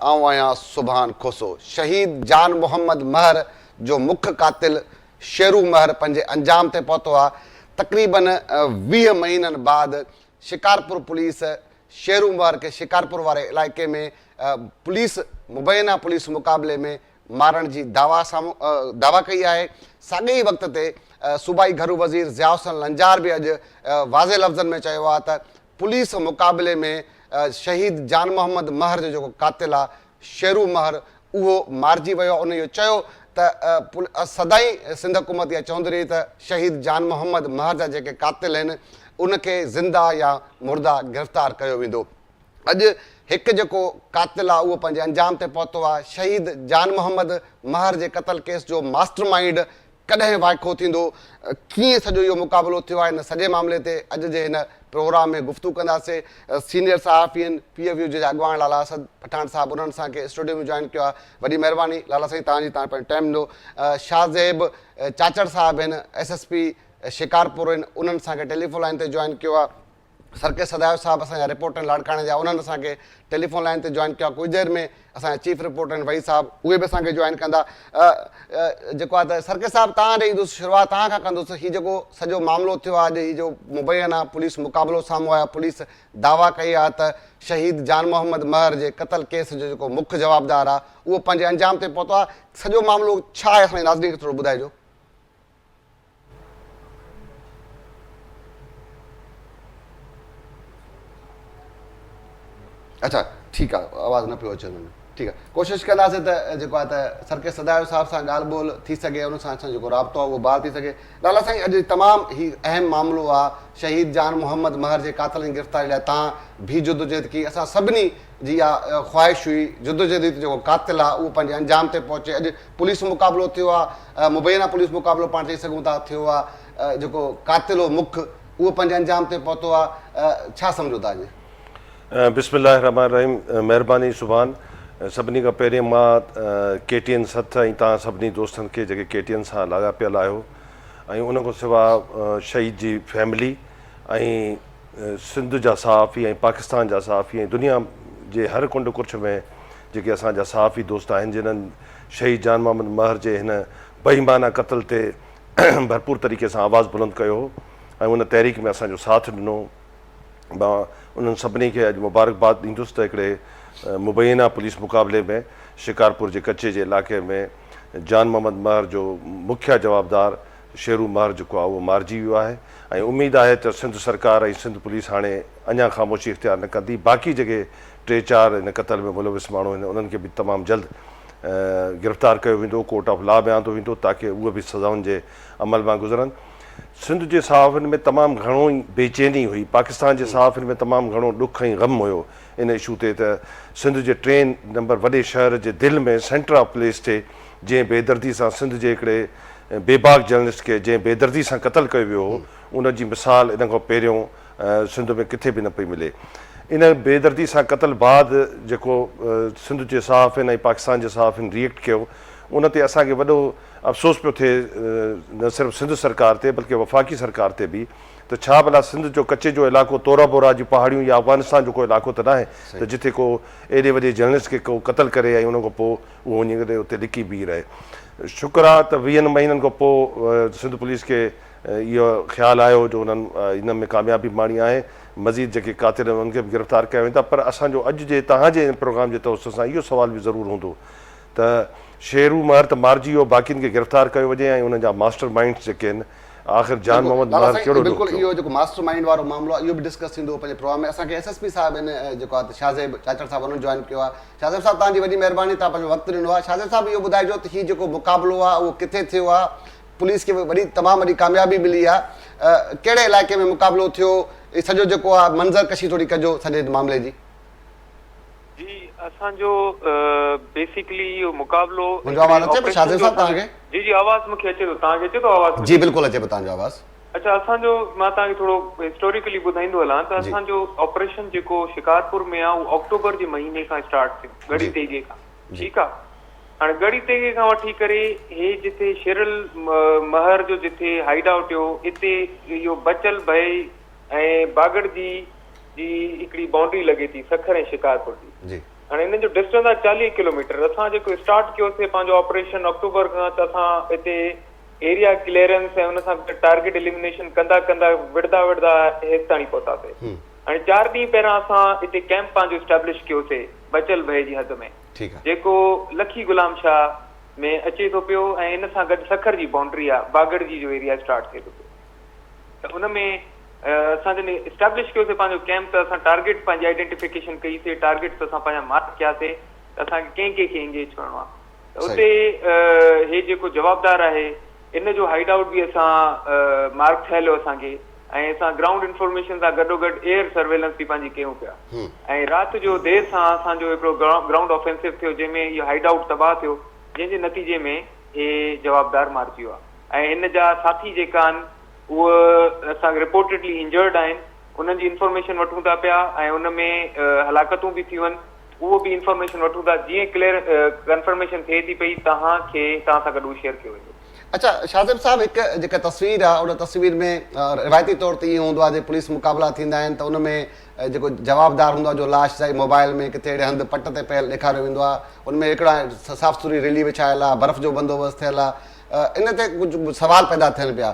آئون آهيان سبحان کوسو شهيد جان محمد مهر جو مک قاتل شيرو مهر پنهنجي انجام تي پهتو آهي تقريبن ويهه مهينن بعد شڪارپور پوليس شهرومبار کي شڪارپور واري علائقي ۾ پوليس مبينا پوليس مقابلي ۾ مارڻ جي دعويٰ دعويٰ ڪئي آهي، ساڳئي ئي وقت تي صوبائي گهرو وزير ضياء حسن لنجار به اڄ واضح لفظن ۾ چيو آهي ته پوليس مقابلي ۾ شهيد جان محمد مهر جو جيڪو قاتل آهي شيرو مهر اهو مارجي ويو ان اهو چيو ته سدائين سنڌ حڪومت اها چوندي رهي ته شهيد جان محمد مهر جا جيڪي قاتل آهن ان کي زنده يا مرده گرفتار ڪيو ويندو اڄ هڪ جيڪو قاتل آهي اهو پنهنجي انجام تي پهتو آهي شهيد جان محمد مهر جي قتل ڪيس جو ماسٽر مائينڊ ڪڏهن وائکو ٿيندو، ڪيئن سڄو اهو مقابلو ٿيو آهي ان سڄي معاملي تي اڄ جي هن پروگرام ۾ گفتگو ڪنداسين سينيئر صحافين پي ايف يو جي جا اڳواڻ لالا اسد پٺاڻ صاحب انهن اسان کي اسٽوڊيو ۾ جوائن ڪيو آهي وڏي مهرباني لالا سائين تهان جي تهان پنهنجو ٽائيم ڏنو شاهه زيب چاچڙ صاحب آهن ايس ايس پي شڪارپور آهن انهن اسان کي ٽيليفون لائين تي جوائن ڪيو آهي سرڪي سدايو صاحب اسان جا رپورٽر آهن لاڙڪاڻي جا انهن اسان کي ٽيليفون لائين تي جوائن ڪيو آهي ڪجهه دير ۾ اسان جا چيف رپورٽر آهن وحيد صاحب اهي به اسان کي جوائن ڪندا جيڪو آهي ته سرڪي صاحب تان ڏي ايندس شروعات تان کان ڪندس هي جيڪو سڄو معاملو ٿيو آهي اڄ هي جو مبين آهي پوليس مقابلو سامهون آيو پوليس دعويٰ ڪئي آهي ته شهيد جان محمد مهر جي قتل ڪيس جو جيڪو مک جوابدار آهي اهو پنهنجي انجام تي پهتو آهي سڄو معاملو ڇا آهي اسان جي ناظرين کي ٿورو ٻڌائجو. اچا ٺيڪ آ آواز نه پيو اچي ان ۾ ٺيڪ آ ڪوشش ڪنداسين ته جيڪو آ ته سرڪي سدايو صاحب سان ڳالھ ٻولھ ٿي سگهي ان سان اسان جو جيڪو رابطو آ اهو بحال ٿي سگهي لالا سائين اڄ تمام هي اهم معاملو آ شهيد جان محمد مهر جي قاتلن جي گرفتاري لاء تان بي جدوجهد ڪي اسان سڀني جي اها خواهش هئي جدوجهد هئي ته جيڪو قاتل آ اهو پنهنجي انجام تي پهچي اڄ پوليس مقابلو ٿيو آ، مبينا پوليس مقابلو پاڻ چئي سگهون ٿا ٿيو آ، جيڪو قاتل هو مک اهو پنهنجي انجام تي پهتو آ، ڇا سمجهو ٿا اڄ؟ بسم الله الرحمٰن الرحيم مهرباني سبحان سڀني کان پهرين مان ڪي ٽي اين سٿ ۽ توهان سڀني دوستن کي جيڪي ڪي ٽي اين سان لاڳاپيل آهيو ۽ ان کان سوا شهيد جي فيملي ۽ سنڌ جا صحافي ۽ پاڪستان جا صحافي ۽ دنيا جي هر ڪنڊ ڪرڇ ۾ جيڪي اسان جا صحافي دوست آهن جنھن شھيد جان محمد مهر جي هن بي ايمانه قتل تي ڀرپور طريقي سان آواز بلند ڪيو هو ۽ ان تحريڪ ۾ اسان جو ساٿ ڏنو مان انھن سڀني کي اڄ مبارڪباد ڏيندس ته هڪڙي مبينا پوليس مقابلي ۾ شڪارپور جي ڪچي جي علائقي ۾ جان محمد مهر جو مکيه جوابدار شيرو مار جيڪو آهي اهو مارجي ويو آهي ۽ اميد آهي ته سنڌ سرڪار ۽ سنڌ پوليس هاڻي اڃا خاموشي اختيار نه ڪندي باقي جيڪي ٽي چار ان قتل ۾ ملوث ماڻهو آهن انهن کي به تمام جلد گرفتار ڪيو ويندو ڪورٽ آف لا ۾ آندو ويندو تاڪه اهي به سزائن جي عمل مان گذرن سنڌ جي صحافين ۾ تمام گهڻو ئي بيچيني هئي پاڪستان جي صحافين ۾ تمام گهڻو ڏک ۽ غم هيو ان اشو تي ته سنڌ جي ٽين نمبر وڏي شهر جي دل ۾ سينٽر آف پوليس تي جنهن بيدردي سان سنڌ جي هڪڙي بي باڪ جرنلسٽ کي جنهن بيدردي سان قتل ڪيو ويو هو ان جي مثال ان کان پهريون سنڌ ۾ ڪٿي به نه پئي ملي ان بيدردي سان قتل بعد جيڪو سنڌ جي صحافين ۽ پاڪستان جي صحافين ريئيڪٽ ڪيو ان تي اسان کي وڏو افسوس پيو ٿئي نه صرف سنڌ سرڪار تي بلڪه وفاقي سرڪار تي به ته ڇا ڀلا سنڌ جو ڪچي جو علائقو تورا بورا جي پهاڙيون يا افغانستان جو ڪو علائقو ته ناهي ته جتي ڪو ايڏي وڏي جرنلسٽ کي ڪو قتل ڪري ۽ ان کان پوء اهو وڃي ڪري اتي لڪي بيهي رهي. شڪر آهي ته ويهن مهينن کان پوء سنڌ پوليس کي اهو خيال آيو جو انهن ان ۾ ڪاميابي ماڻي آهي. مزيد جيڪي قاتل آهن انهن کي به گرفتار ڪيا ويندا پر اسان جو اڄ جي توهان جي ان پروگرام جي توسط سان اهو سوال به ضرور هوندو ته شيرو مهر ته مارجي ويو باقين کي گرفتار ڪيو وڃي ۽ انهن جا ماسٽر مائنڊس جيڪي آهن آخر جان محمد مهر ڪهڙو ڏوهه ٿيو. بلڪل اهو جيڪو ماسٽر مائينڊ وارو معاملو آهي اهو به ڊسڪس ٿيندو پنهنجي پروگرام ۾ اسان کي ايس ايس پي صاحب ان جيڪو آهي شاهزيب چاچڙ صاحب انهن جوائن ڪيو آهي شاهزيب صاحب توهان جي وڏي مهرباني توهان پنهنجو وقت ڏنو آهي شاهزيب صاحب اهو ٻڌائجو ته هي جيڪو مقابلو آهي اهو ڪٿي ٿيو آهي پوليس کي وڏي تمام وڏي ڪاميابي ملي آهي ڪهڙي علائقي ۾ مقابلو ٿيو هي سڄو جيڪو آهي منظر ڪشي ٿوري ڪجو سڄي معاملي جي. جي اسان جو بيسيڪلي اهو مقابلو منهنجو آواز اچي پيو شاهزين صاحب توهان کي؟ جي جي آواز مونکي اچي ٿو توهان کي اچي ٿو آواز منهنجو؟ جي بلڪل اچي پيو توهان جو آواز. اڇا اسان جو مان توهان کي ٿورو هسٽوريڪلي ٻڌائيندو هلان ته اسان جو آپريشن جيڪو شڪارپور ۾ آ اهو آڪٽوبر جي مهيني کان اسٽارٽ ٿيو ڳڙهي تيغي کان ٺيڪ آ هاڻي ڳڙهي تيغي کان وٺي ڪري هي جتي شيرل مهر جو جتي هائيڊ آئوٽ هيو اتي اهو بچل ڀئي ۽ باگڙجي جي هڪڙي بائونڊري لڳي ٿي سکر ۽ شڪارپور جي هاڻي انهن جو ڊسٽنس آهي چاليهه ڪلوميٽر اسان جيڪو اسٽارٽ ڪيو سي پنهنجو آپريشن آڪٽوبر کان ته اسان هتي ايريا ڪليئرنس ۽ ان سان ٽارگيٽ اليمنيشن ڪندا ڪندا وڙهدا وڙهدا هيستاڻي پهتا سي هاڻي چار ڏينهن پهريان اسان هتي ڪيمپ پنهنجو اسٽيبلش ڪيو سي بچل ڀئي جي حد ۾ جيڪو لکي غلام شاهه ۾ اچي ٿو پيو ۽ ان سان گڏ سکر جي بائونڊري آهي باگڙجي جو ايريا اسٽارٽ ٿئي ٿو پيو ته ان ۾ اسان جڏهن اسٽيبلش ڪيوسي پنهنجو ڪئمپ ته اسان ٽارگيٽس پنهنجي آئيڊينٽيفڪيشن ڪئي سي ٽارگيٽس اسان پنهنجا مارڪ ڪيا سي ته اسان کي ڪنهن ڪنهن کي انگيج ڪرڻو آهي ته اتي هي جيڪو جوابدار آهي ان جو هائيڊ آئوٽ به اسان مارڪ ٺهيل هو اسان کي ۽ اسان گرائونڊ انفارميشن سان گڏو گڏ ايئر سرويلنس به پنهنجي ڪيون پيا ۽ رات جو دير سان اسان جو هڪڙو گرائونڊ آفينسو ٿيو جنهن ۾ هي هائيڊ آئوٽ تباهه ٿيو جنهن جي نتيجي ۾ هي جوابدار مارجي ويو آهي ۽ هن جا ساٿي جيڪا آهن اهي اسان کي رپورٽيڊلي انجرڊ آهن انهن جي انفارميشن وٺون ٿا پيا ۽ ان ۾ هلاڪتون به ٿيون آهن اهو به انفارميشن وٺون ٿا جيئن ڪليئر ڪنفرميشن ٿئي ٿي پئي توهان کي توهان سان گڏ اهو شيئر ڪيو ويندو. اڇا شاهه زيب صاحب هڪ جيڪا تصوير آهي ان تصوير ۾ روايتي طور تي ائين هوندو آهي جي پوليس مقابلا ٿيندا آهن ته ان ۾ ۽ جيڪو جوابدار هوندو آهي جو لاش سائين موبائل ۾ ڪٿي اهڙي هنڌ پٽ تي پيل ڏيکاريو ويندو آهي ان ۾ هڪڙا صاف سٿري ريلي وڇايل آهي برف جو بندوبست ٿيل آهي ان تي ڪجهه سوال پيدا ٿين پيا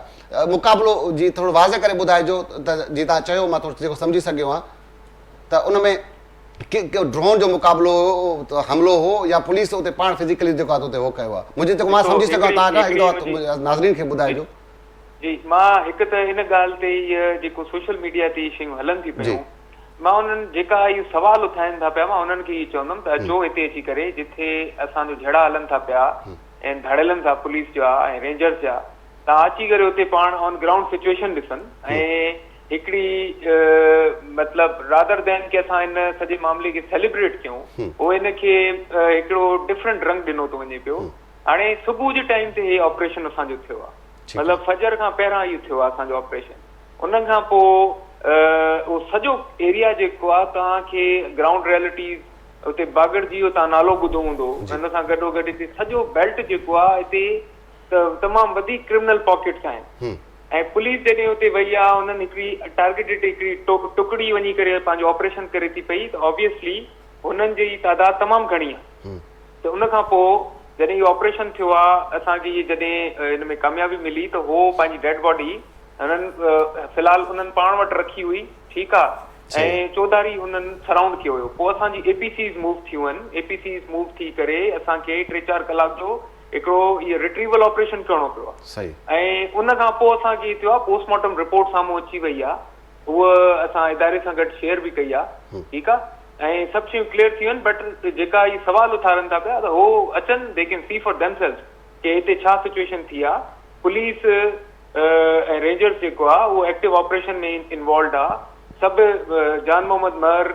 مقابلو جي ٿورو واضح ڪري ٻڌائجو ته جي تان چيو مان ٿورو جيڪو سمجهي سگهيو آهيان ته ان ۾ ڊرون جو مقابلو هو حملو هو يا پوليس اتي پاڻ فزيڪلي جيڪو آهي اتي هو ڪيو آهي منهنجي جيڪو مان سمجهي سگهيو آهيان تان کان هڪ دفعو ناظرين کي ٻڌائجو جي مان هڪ ته ان ڳالهه تي هي جيڪو سوشل ميڊيا تي شيون هلن ٿي پيون مان انهن جيڪا هي سوال اٿائين ٿا پيا مان انهن کي هي چوندم ته اچو هتي اچي ڪري جتي اسان جو جهيڙا هلن ٿا پيا ۽ ڌڙيلن ٿا پوليس جا ۽ رينجرز جا تان اچي ڪري اتي پاڻ آن گرائونڊ سچويشن ڏسن ۽ هڪڙي مطلب رادر دين کي اسان ان سڄي معاملي کي سيليبريٽ ڪيون هو ان کي هڪڙو ڊفرنٽ رنگ ڏنو ٿو وڃي پيو هاڻي صبح جي ٽائيم تي هي آپريشن اسان جو ٿيو آهي مطلب فجر کان پهران اهو ٿيو آهي اسان جو آپريشن ان کان پوء اهو سڄو ايريا جيڪو آهي توهان کي گرائونڊ ريئلٽيز اتي باگڙ جي اهو توهان نالو ٻڌو هوندو ان سان گڏو گڏ هتي سڄو بيلٽ جيڪو آهي هتي تمام وڌيڪ ڪرمنل پاڪيٽس آهن ۽ پوليس جڏهن اتي وئي آهي انهن هڪڙي ٽارگيٽيڊ هڪڙي ٽڪڙي وڃي ڪري پنهنجو آپريشن ڪري ٿي پئي ته آبويسلي هنن جي تعداد تمام گهڻي آهي ته ان کان پوء جڏهن اهو آپريشن ٿيو آ اسان کي اهي جڏهن ان ۾ ڪاميابي ملي ته هو پنهنجي ڊيڊ باڊي هنن في الحال انهن پاڻ وٽ رکي هئي ٺيڪ آ ۽ چوڌاري هنن سرائونڊ ڪيو هيو پوء اسان جي اي پي سيز موو ٿيون هن اي پي سيز موو ٿي ڪري اسان کي ٽي چار ڪلاڪ جو هڪڙو اهي رٽريول آپريشن ڪرڻو پيو آ ۽ ان کان پوء اسان کي ٿيو آ پوسٽ مارٽم رپورٽ سامهون اچي وئي آ هوء اسان اداري سان گڏ شيئر به ڪئي آ ٺيڪ آ ۽ سڀ شيون ڪليئر ٿي وين بٽ جيڪا هي سوال اٿارن ٿا پيا ته هو اچن they can see for themselves ڪي هتي ڇا سچويشن ٿي آ پوليس ۽ رينجرز جيڪو آ اهو ايڪٽو آپريشن ۾ انوالوڊ آ سڀ جان محمد مهر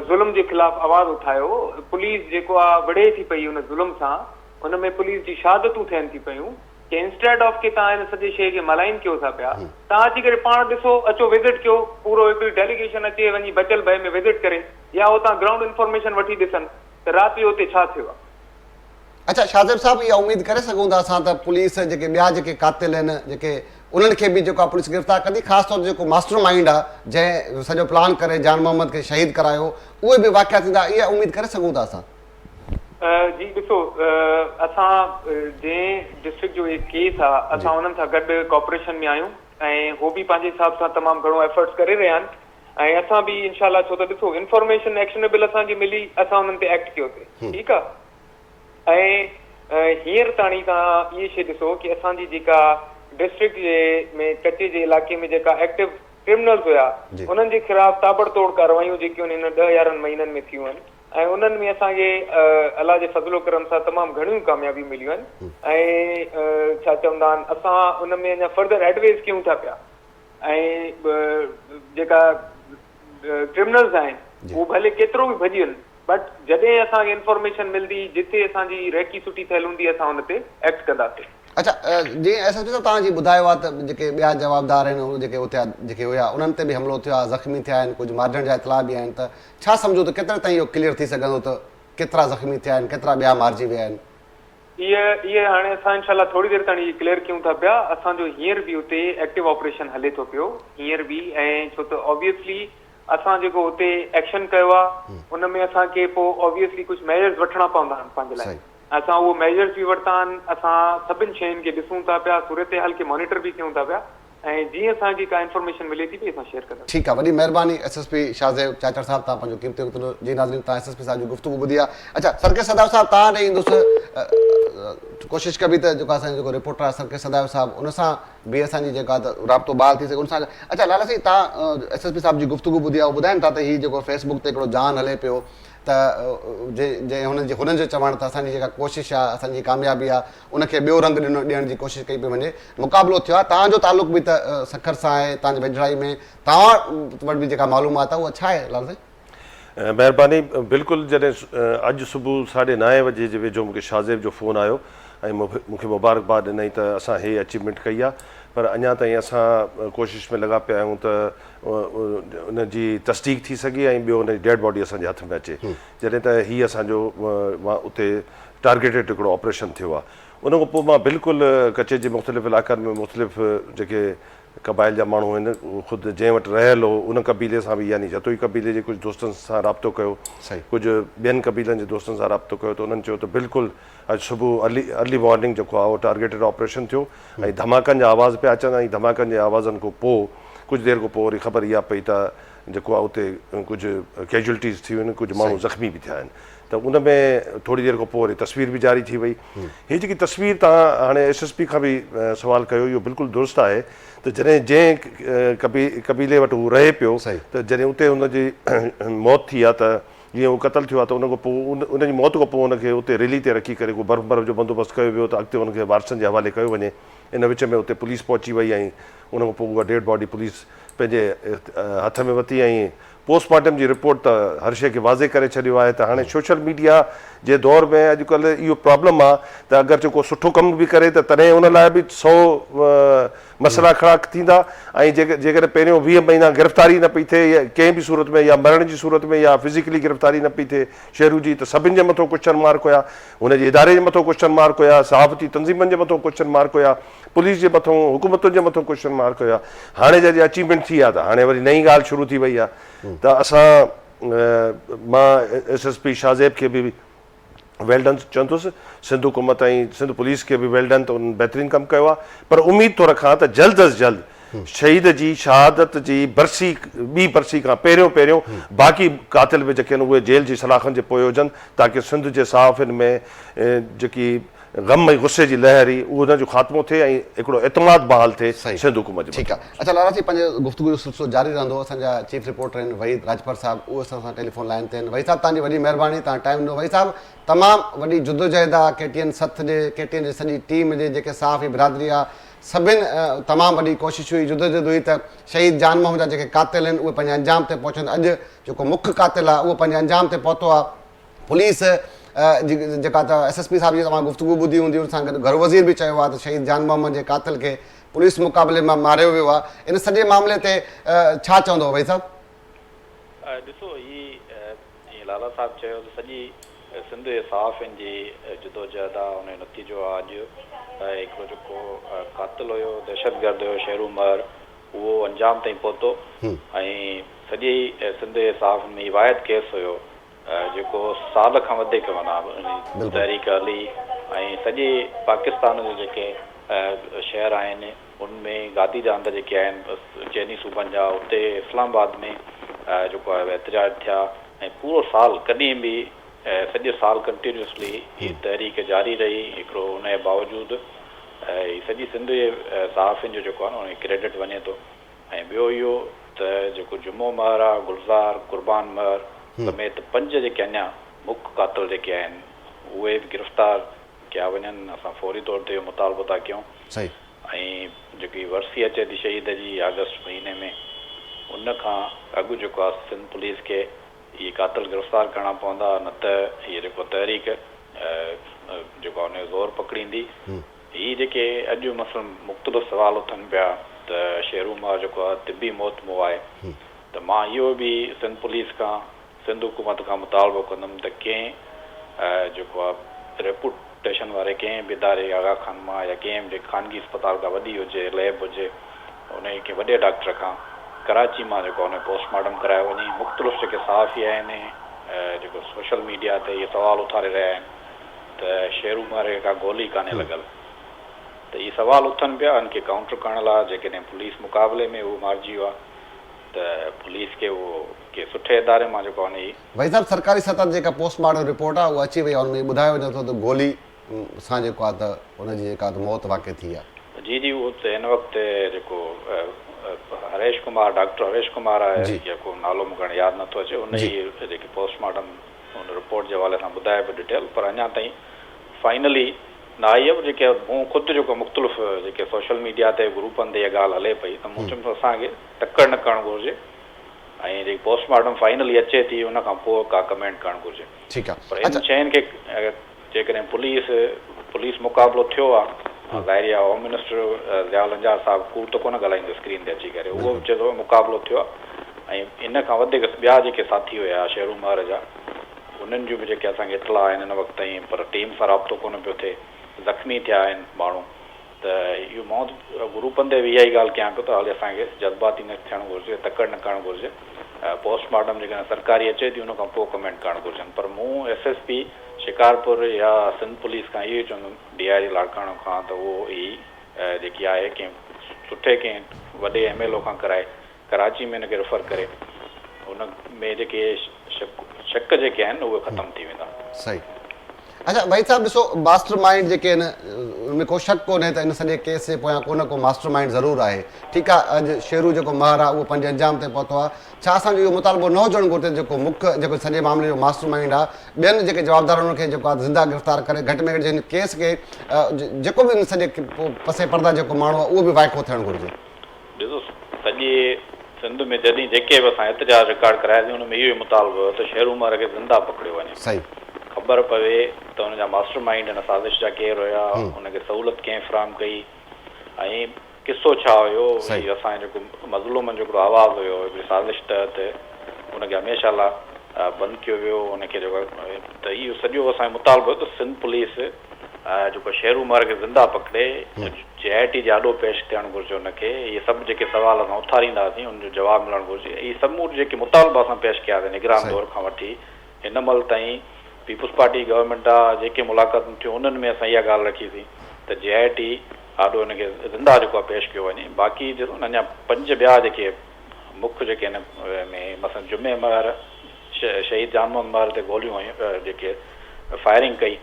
ظلم جي خلاف آواز اٿايو پوليس جيڪو آ وڙهي ٿي پئي ان ظلم سان ان ۾ پوليس جي شهادتون ٿين ٿي پيون ڪي انسٽيٽ آف ڪي تان هن سڄي شيء کي ملائين ڪيو ٿا پيا تان اچي ڪري پاڻ ڏسو اچو وزٽ ڪيو پورو هڪڙي ڊيليگيشن اچي وڃي بچل بهه ۾ وزٽ ڪري يا هتان گرائونڊ انفارميشن وٺي ڏسن ته راتي اتي ڇا ٿيو آهي. اڇا شاهزيب صاحب اها اميد ڪري سگهون ٿا اسان ته پوليس جيڪي ٻيا جيڪي قاتل آهن جيڪي انهن کي به جيڪو آهي پوليس گرفتار ڪندي خاص طور تي جيڪو ماسٽر مائنڊ آهي جنهن سڄو پلان ڪري جان محمد کي شهيد ڪرايو اهي به واقعا ٿيندا اها اميد ڪري سگهون ٿا اسان. جي ڏسو اسان جنهن ڊسٽرڪٽ جو هي ڪيس آ اسان انهن سان گڏ ڪاپريشن ۾ آهيون ۽ هو به پنهنجي حساب سان تمام گهڻو ايفرٽس ڪري رهيا آهن ۽ اسان به انشاء الله ڇو ته ڏسو انفارميشن ايڪشنيبل اسان کي ملي اسان انهن تي ايڪٽ ڪيو سي ٺيڪ آ ۽ هينئر تاڻي توهان اهي شي ڏسو ڪي اسان جي جيڪا ڊسٽرڪٽ جي ۾ ڪچي جي علائقي ۾ جيڪا ايڪٽو ڪرمنلز هيا انهن جي خلاف تابڙ توڙ ڪاروايون جيڪيون هن ڏهه يارهن مهينن ۾ ٿيون آهن ۽ انهن ۾ اسان کي الله جي فضل و ڪرم سان تمام گهڻيون ڪاميابيون مليون آهن ۽ ڇا چوندا آهن اسان ان ۾ اڃا فردر ايڊويز ڪيون ٿا پيا ۽ جيڪا ڪرمنلز آهن هو ڀلي ڪيترو به ڀڄين بٽ جڏهن اسان کي انفارميشن ملندي جتي اسان جي ريڪي سٺي ٿيل هوندي اسان ان تي ايڪٽ ڪنداسين اڇا جي ايس ايس پي صاحب توهان جي ٻڌايو آهي ته جيڪي ٻيا جوابدار آهن جيڪي اتي جيڪي هيا انهن تي به حملو ٿيو آهي زخمي ٿيا آهن ڪجهه مارجڻ جا اطلاع به آهن ته ڇا سمجهو ته ڪيتري تائين اهو ڪليئر ٿي سگهندو ته ڪيترا زخمي ٿيا آهن ڪيترا ٻيا مارجي ويا آهن؟ اهي اهي هاڻي اسان انشاء الله ٿوري دير تائڻي ڪليئر ڪيون ٿا پيا اسان جو هينئر به اتي ايڪٽو آپريشن هلي ٿو پيو هينئر به ۽ ڇو ته اوبيسلي اسان جيڪو اتي ايڪشن ڪيو آ ان ۾ اسان کي پو اوبيسلي ڪجهه ميجرز وٺڻا پوندا آهن پنهنجي لاء صحيح اسان اهو ميجرز به ورتا آهن اسان سڀن شين کي ڏسون ٿا پيا صورتحال کي مانيٽر به ڪيون ٿا پيا. ۽ جيئن اسان کي ڪا انفارميشن ملي ٿي پئي اسان شيئر ڪنداسين. ٺيڪ آ وڏي مھرباني S S P Shah Zeb Chachar صاحب تھان پنھنجو قيمتي وقت ڏنو جي ناظرين تھان ايس ايس پي صاحب جي گفتگو ٻڌي آ اچا سرڪيس سدائو صاحب تھان ڏي ايندس ڪوشش ڪبي ته جيڪو اسان جو جيڪو رپورٽر آ سرڪيس سدائو صاحب ان سان به اسان جي جيڪا ته رابطو بحال ٿي سگھي ان سان اچا لالا سائين تھان ايس ايس پي صاحب جي گفتگو ٻڌي آ ھو ٻڌائين ٿا ته ھي جيڪو فيس بڪ تي ھڪڙو جان ھلي پيو ته جي جي ھنن جي ھنن جو چوڻ ته اسان جي جيڪا ڪوشش آ اسان جي ڪاميابي آ ان کي ٻيو رنگ ڏنو ڏيڻ جي ڪوشش ڪئي پئي وڃي مقابلو ٿيو آهي توهان جو تعلق به ته سکر سان آهي توهان جي ويجهڙائي ۾ توهان وٽ به جيڪا معلومات آهي اها ڇا آهي لال سائين. مهرباني بلڪل جڏهن اڄ صبح ساڍي نائين وجي جي ويجهو مونکي شاهزيب جو فون آيو ۽ مونکي مبارڪباد ڏنائين ته اسان هي اچيومينٽ ڪئي آهي پر اڃا تائين اسان ڪوشش ۾ لڳا پيا آهيون ته ان جي تصديق ٿي سگهي ۽ ٻيو ان جي ڊيڊ باڊي اسان جي هٿ ۾ اچي جڏهن ته هي اسان جو اتي ٽارگيٽيڊ هڪڙو آپريشن ٿيو آهي. ان کان پوء مان بلڪل ڪچي جي مختلف علائقن ۾ مختلف جيڪي قبائل جا ماڻهو هن خود جنهن وٽ رهيل هو ان قبيلي سان به يعني جتوئي قبيلي جي ڪجهه دوستن سان رابطو ڪيو ڪجهه ٻين قبيلن جي دوستن سان رابطو ڪيو ته انهن چيو ته بلڪل اڄ صبح ارلي ارلي مارننگ جيڪو آهي اهو ٽارگيٽيڊ آپريشن ٿيو ۽ ڌماڪن جا آواز پيا اچن ۽ ڌماڪن جي آوازن کان پوء ڪجهه دير کان پوء وري خبر اها پئي ته جيڪو آهي اتي ڪجهه ڪيجوئلٽيز ٿيون آهن ڪجهه ماڻهو زخمي به ٿيا آهن ته ان ۾ ٿوري دير کان پوء وري تصوير به جاري ٿي وئي هي جيڪي تصوير تهان هاڻي ايس ايس پي کان به سوال ڪيو اهو بلڪل درست آهي ته جڏهن جنهن قبيلي وٽ هو رهي پيو ته جڏهن اتي ان جي موت ٿي آهي ته جيئن هو قتل ٿيو آهي ته ان کان پوء ان جي موت کان پوء ان کي اتي ريلي تي رکي ڪري ڪو برف برف جو بندوبست ڪيو ويو ته اڳتي ان کي وارثن جي حوالي ڪيو وڃي ان وچ ۾ اتي پوليس پهچي وئي ۽ ان کان پوء اها ڊيڊ باڊي پوليس پنهنجي هٿ ۾ وتي ۽ پوسٽ مارٽم جي رپورٽ ته هر شيء کي واضح ڪري ڇڏيو آهي ته هاڻي سوشل ميڊيا جي دور ۾ اڄ ڪلهه اهو پرابلم آهي ته اگرچه ڪو سٺو ڪم به ڪري ته تڏهن ان لاء به سؤ مسئلا کڙا ٿيندا ۽ جيڪڏهن پهريون ويهه مهينا گرفتاري نه پئي ٿئي ڪنهن به صورت ۾ يا مرڻ جي صورت ۾ يا فزيڪلي گرفتاري نه پئي ٿئي شهرو جي ته سڀن جي مٿو ڪوشچن مارڪ هيا هن جي اداري جي مٿو ڪوشچن مارڪ هيا صحافتي تنظيمن جي مٿو ڪوشچن مارڪ هيا پوليس جي مٿون، حڪومتن جي مٿون ڪوشچن مارڪ هيا. هاڻي جڏهن اچيومينٽ ٿي آ ته هاڻي وري نئين ڳالهه شروع ٿي وئي آ ته اسان مان S S P Shah Zeb کي به ويل ڊن چوندس، سنڌ حڪومت ۽ سنڌ پوليس کي به ويل ڊن ته انهن بهترين ڪم ڪيو آ پر اميد ٿو رکان ته جلد از جلد شهيد جي شهادت جي برسي ٻي برسي کان پهريون پهريون باقي قاتل به جيڪي آهن اهي جيل جي سلاخن جي پوء هجن تاڪه سنڌ جي صحافين ۾ جيڪي غم ۽ غصي جي لهر ئي ان جو خاتمو ٿئي ۽ هڪڙو اعتماد بحال ٿئي سنڌ حڪومت جي مٿان. اچا لالا سائين پنهنجي گفتگو جو سلسلو جاري رهندو اسان جا چيف رپورٽر آهن وحيد راڄپر صاحب اهو اسان سان ٽيليفون لائين تي آهن وحيد صاحب توهان جي وڏي مهرباني توهان ٽائيم ڏنو وحيد صاحب تمام وڏي جدوجهد آهي ڪي ٽي اين سٿ جي ڪي ٽي اين جي سڄي ٽيم هجي جيڪي صحافي برادري آهي سڀن تمام وڏي ڪوشش هئي جدوجهد هئي ته شهيد جان محمد جا جيڪي قاتل آهن اهي پنهنجي انجام تي پهچن اڄ جيڪو مک قاتل آهي اهو پنهنجي انجام تي پهتو آهي پوليس جيڪا ته ايس ايس پي صاحب جي توهان گفتگو ٻڌي هوندي ان سان گڏ گهرو وزير به چيو آهي ته شهيد جان محمد جي قاتل کي پوليس مقابلي مان ماريو ويو آهي ان سڄي معاملي تي ڇا چوندو وحيد صاحب. ڏسو هي جيئن لالا صاحب چيو ته سڄي سنڌ جي صحافين جي جدوجهد آهي ان جو نتيجو آهي اڄ هڪڙو جيڪو قاتل هيو دهشت گرد هيو شيرو مهر اهو انجام تائين پهتو ۽ سڄي سنڌ جي صحافين ۾ هي واحد ڪيس هيو جيڪو سال کان وڌيڪ معنيٰ تحريڪ هلي ۽ سڄي پاڪستان جا جيڪي شهر آهن ان ۾ گادي جا هنڌ جيڪي آهن چئني صوبن جا اتي اسلام آباد ۾ جيڪو آهي احتجاج ٿيا ۽ پورو سال ڪڏهن به سڄي سال ڪنٽينيوسلي هي تحريڪ جاري رهي هڪڙو ان جي باوجود هي سڄي سنڌ جي صحافين جو جيڪو آهي نه ان کي ڪريڊٽ وڃي ٿو. ۽ ٻيو اهو ته جيڪو جمعو مهر آ، گلزار، قربان مهر سميت پنج جيڪي اڃا مک قاتل جيڪي آهن اهي به گرفتار ڪيا وڃن، اسان فوري طور تي اهو مطالبو ٿا ڪيون ۽ جيڪي ورسي اچي ٿي شهيد جي آگسٽ مهيني ۾ ان کان اڳ جيڪو آ سنڌ پوليس کي اهي قاتل گرفتار ڪرڻا پوندا نه ته هيء جيڪو تحريڪ جيڪو آ ان جو زور پڪڙيندي. هي جيڪي اڄ مثلاً مقتبس سوال اٿن پيا ته شيرو مار جيڪو آهي طبي موت مئو آهي ته مان اهو به سنڌ پوليس کان سنڌ حڪومت کان مطالبو ڪندم ته ڪنهن جيڪو آهي ريپوٽيشن واري ڪنهن به اداري آغا خان مان يا ڪنهن به خانگي اسپتال ڪا وڏي هجي ليب هجي انهي ڪنهن وڏي ڊاڪٽر کان ڪراچي مان جيڪو آهي پوسٽ مارٽم ڪرايو وڃي مختلف جيڪي صحافي آهن جيڪو سوشل ميڊيا تي اهي سوال اٿاري رهيا آهن ته شيرو مارئي کي ڪا گولي ڪانهي لڳل ته هي سوال اٿن پيا ان کي ڪائونٽر ڪرڻ لاء جيڪڏهن پوليس مقابلي ۾ هو مارجي ويو آهي ته پوليس کي اهو ڪنهن سٺي اداري مان جيڪو آهن هي وحيد صاحب سرڪاري سطح تي جيڪا پوسٽ مارٽم رپورٽ آهي اها اچي وئي آهي ان ۾ ٻڌايو وڃي ٿو ته گولي سان جيڪو آهي ته ان جي جيڪا ته موت واقع ٿي آهي. جي جي اهو ته هن وقت جيڪو هريش ڪمار ڊاڪٽر هريش ڪمار آهي جي. جيڪو نالو مون کي هاڻي ياد نٿو اچي ان جي جي. جيڪي پوسٽ مارٽم ان رپورٽ جي حوالي سان ٻڌائي به ڊٽيل پر اڃا تائين فائنلي نه آئي آهي جيڪي مون خود جيڪو مختلف جيڪي سوشل ميڊيا تي گروپن تي اها ڳالهه هلي پئي ته مون چيم ته اسان کي تڪڙ نه ڪرڻ گهرجي ۽ جيڪي پوسٽ مارٽم فائنلي اچي ٿي ان کان پوء ڪا ڪمينٽ ڪرڻ گهرجي پر ان شين کي جيڪڏهن پوليس پوليس مقابلو ٿيو آ ظاهري آ هوم منسٽر ضياء الانجار صاحب ڪوڙ ته ڪونه ڳالهائيندو اسڪرين تي اچي ڪري اهو به چئي ٿو مقابلو ٿيو آ ۽ ان کان وڌيڪ ٻيا جيڪي ساٿي هيا شهرو مهر جا انهن جون به جيڪي اسان کي اطلاع آهن هن وقت تائين پر ٽيم سان رابطو ڪونه پيو ٿئي زخمي ٿيا آهن ماڻهو ته اهو مئوت گروپن تي به اها ئي ڳالهه ڪيان پيو ته هالي اسان کي جذباتي نه ٿيڻ گهرجي، تڪڙ نه ڪرڻ گهرجي، پوسٽ مارٽم جيڪڏهن سرڪاري اچي ٿي ان کان پوء ڪمينٽ ڪرڻ گهرجن پر مون ايس ايس پي شڪارپور يا سنڌ پوليس کان اهو ئي چوندم ڊي آء جي لاڙڪاڻو کان ته اهو ئي جيڪي آهي ڪنهن سٺي ڪنهن وڏي ايم ايل او کان ڪرائي ڪراچي ۾ هن کي ريفر ڪري ان ۾ جيڪي شڪ شڪ جيڪي آهن اهي ختم ٿي ويندا. صحيح اچا وحيد صاحب ڏسو ماسٽر مائينڊ جيڪي آهن ان ۾ ڪو شڪ ڪونهي ته ان سڄي ڪيس جي پويان ڪو نه ڪو ماسٽر مائينڊ ضرور آهي ٺيڪ آهي اڄ شيرو جيڪو ماهر آهي اهو پنهنجي انجام تائين پهتو آهي ڇا اسان جو اهو مطالبو نه هجڻ گهرجي ته جيڪو مک جيڪو سڄي معاملي جو ماسٽر مائينڊ آهي ٻين جيڪي جوابدار انهن کي جيڪو آهي زنده گرفتار ڪري گهٽ ۾ گهٽ جي هن ڪيس کي جيڪو به ان سڄي پسي پرده جيڪو ماڻهو آهي اهو به وائکو ٿيڻ گهرجي. ڏسو سڄي سنڌ ۾ جڏهن جيڪي به اسان احتجاج رڪارڊ ڪراياسين ان ۾ اهو ئي مطالبو هيو ته شهر عمر کي زنده پڪڙيو وڃي صحيح. خبر پوي ته ان جا ماسٽر مائينڊ ان سازش جا ڪير هيا هم. ان کي سهولت ڪنهن فراهم ڪئي ۽ قصو ڇا هيو صحيح. هي اسان جو جيڪو مظلومن جو هڪڙو آواز هيو هڪڙي سازش تحت ان کي هميشه لا بند ڪيو ويو ان کي جيڪو ته اهو سڄو اسان جو مطالبو هيو ته سنڌ پوليس جيڪو شيرو مارئي کي زنده پڪڙي جي آء ٽي جي آڏو پيش ٿيڻ گهرجي ان کي اهي سڀ جيڪي سوال اسان اٿارينداسين ان جو جواب ملڻ گهرجي اهي سمورا جيڪي مطالبا اسان پيش ڪياسين نگران دور کان وٺي هن مهل تائين پيپلز پارٽي گورنمينٽ آ جيڪي ملاقاتون ٿيون انهن ۾ اسان اها ڳالهه رکي سين ته جي آء ٽي آڏو هن کي زنده جيڪو آ پيش ڪيو وڃي باقي ڏسو نه اڃا پنج ٻيا جيڪي مک جيڪي هن ۾ مثلا جمعي مهر شهيد جان محمد مهر تي گوليون هنيون ته جيڪي فائرنگ ڪئي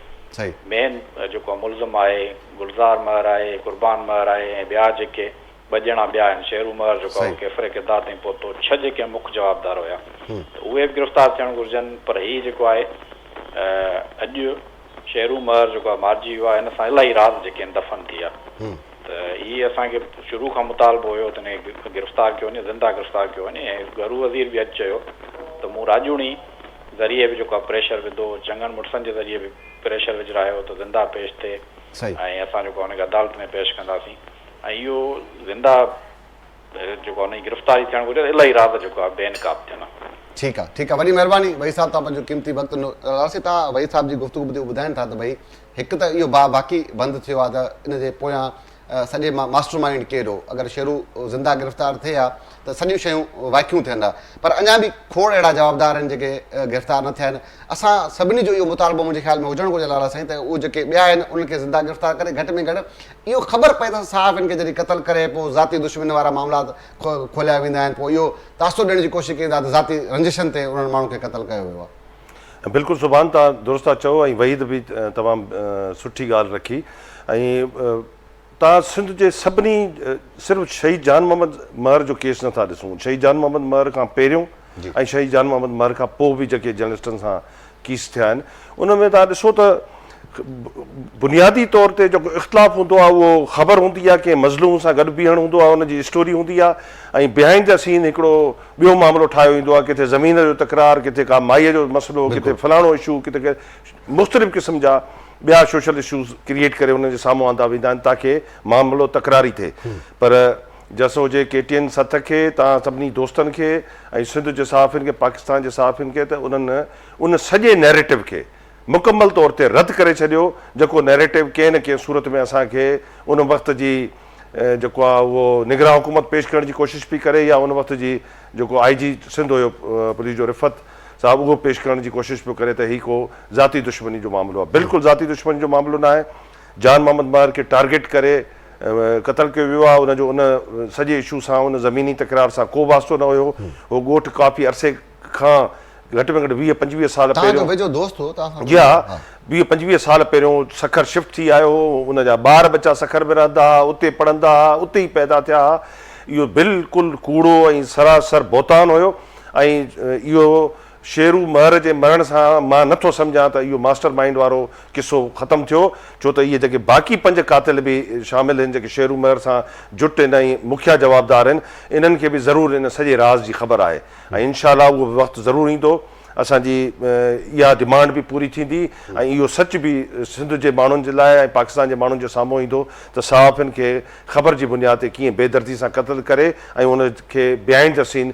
مين جيڪو ملزم آهي گلزار مهر آهي قربان مهر آهي ۽ ٻيا جيڪي ٻه ڄڻا ٻيا آهن شيرو مهر جيڪو ڪيفر ڪردار تائين پهتو ڇهه جيڪي مک جوابدار هيا ته اهي به گرفتار ٿيڻ گهرجن پر هي جيڪو آهي اڄ شهرون مهر جيڪو آهي مارجي ويو آهي، هن سان الاهي راز جيڪي آهن دفن ٿي ويا ته هي اسان کي شروع کان مطالبو هيو ته هن کي گرفتار ڪيو وڃي زنده گرفتار ڪيو وڃي ۽ گهرو وزير به اڄ چيو ته مون راڄوڻي ذريعي به جيڪو آهي پريشر وڌو چڱن مڙسن جي ذريعي به پريشر وجهرايو ته زنده پيش ٿئي ۽ اسان جيڪو آهي هن کي عدالت ۾ پيش ڪنداسين ۽ اهو زنده جيڪو انهي جي گرفتاري ٿيڻ گهرجي ته الهي راز جيڪو آهي بي نقاب ٿين. ٺيڪ آ ٺيڪ آ وڏي مهرباني وحيد صاحب توهان پنهنجو قيمتي وقت ڏنو راسي تان وحيد صاحب جي گفتگو ٻڌي هو ٻڌائين ٿا ته ڀئي هڪ ته اهو باهه باقي بند ٿيو آ ته ان جي پويان سڄي مان ماسٽر مائينڊ ڪير هو اگر شيرو زنده گرفتار ٿئي ها ته سڄيون شيون وائکيون ٿين ها پر اڃان به کوڙ اهڙا جوابدار آهن جيڪي گرفتار نه ٿيا آهن اسان سڀني جو اهو مطالبو منهنجي خيال ۾ هجڻ گهرجي لاڙا سائين ته اهو جيڪي ٻيا آهن انهن کي زنده گرفتار ڪري گهٽ ۾ گهٽ اهو خبر پئي ته صحافين کي جڏهن قتل ڪري پوء ذاتي دشمنين وارا معاملا کوليا ويندا آهن پوء اهو تاثر ڏيڻ جي ڪوشش ڪيندا ته ذاتي رنجشن تي انهن ماڻهن کي قتل ڪيو ويو آهي. بلڪل سبحان تان درست ٿا چئو ۽ وحيد به تمام سٺي ڳالهه رکي ۽ تان سنڌ جي سڀني صرف شهيد جان محمد مهر جو ڪيس نه ٿا ڏسون شهيد جان محمد مهر کان پهريون ۽ شهيد جان محمد مهر کان پوء به جيڪي جرنلسٽن سان ڪيس ٿيا آهن ان ۾ توهان ڏسو ته بنيادي طور تي جيڪو اختلاف هوندو آهي اهو خبر هوندي آهي ڪنهن مظلوم سان گڏ بيهڻ هوندو آهي ان جي اسٽوري هوندي آهي ۽ بهائنڊ دا سين هڪڙو ٻيو معاملو ٺاهيو ويندو آهي ڪٿي زمين جو تڪرار ڪٿي ڪا مائي جو مسئلو ڪٿي فلاڻو اشو ڪٿي مختلف قسم جا ٻيا سوشل اشوز ڪريئيٽ ڪري انهن جي سامهون آندا ويندا آهن تاڪي معاملو تڪراري ٿئي پر جس هجي ڪي ٽي اين سٿ کي، توهان سڀني دوستن کي ۽ سنڌ جي صحافين کي، پاڪستان جي صحافين کي ته انهن ان سڄي نئريٽو کي مڪمل طور تي رد ڪري ڇڏيو جيڪو نئريٽو ڪنهن نه ڪنهن صورت ۾ اسان کي ان وقت جي جيڪو آ اهو نگران حڪومت پيش ڪرڻ جي ڪوشش پي ڪري يا ان وقت جي جيڪو آئي جي سنڌ هيو پوليس جو رفعت صاحب اهو پيش ڪرڻ جي ڪوشش پيو ڪري ته هي ڪو ذاتي دشمني جو معاملو آ بلڪل ذاتي دشمني جو معاملو ناهي جان محمد مهر کي ٽارگيٽ ڪري قتل ڪيو ويو آهي ان جو ان سڄي اشو سان ان زميني تڪرار سان ڪو به واسطو نه هيو هو ڳوٺ ڪافي عرصي کان گهٽ ۾ گهٽ ويهه پنجويهه سال پهريون توهان جو ويجهو دوست هو توهان سان جي ها ويهه پنجويهه سال پهريون سکر شفٽ ٿي آيو هو ان جا ٻار ٻچا سکر ۾ رهندا ها اتي پڙهندا ها اتي ئي پيدا ٿيا ها اهو بلڪل ڪوڙو ۽ سراسر بهتان هيو ۽ اهو شيرو مهر جي مرڻ سان مان نه ٿو سمجهان ته اهو ماسٽر مائينڊ وارو قصو ختم ٿيو ڇو ته اهي جيڪي باقي پنج قاتل به شامل هن جيڪي شيرو مهر سان جٽ هن ۽ مکيا جوابدار هن انهن کي به ضرور ان سڄي راز جي خبر آهي ۽ انشاء الله اهو به وقت ضرور ايندو اسان جي اها ڊمانڊ به پوري ٿيندي ۽ اهو سچ به سنڌ جي ماڻهن جي لاء ۽ پاڪستان جي ماڻهن جي سامهون ايندو ته صحافين کي خبر جي بنياد تي ڪيئن بي دردي سان قتل ڪري ۽ ان کي بهائينڊ دي سين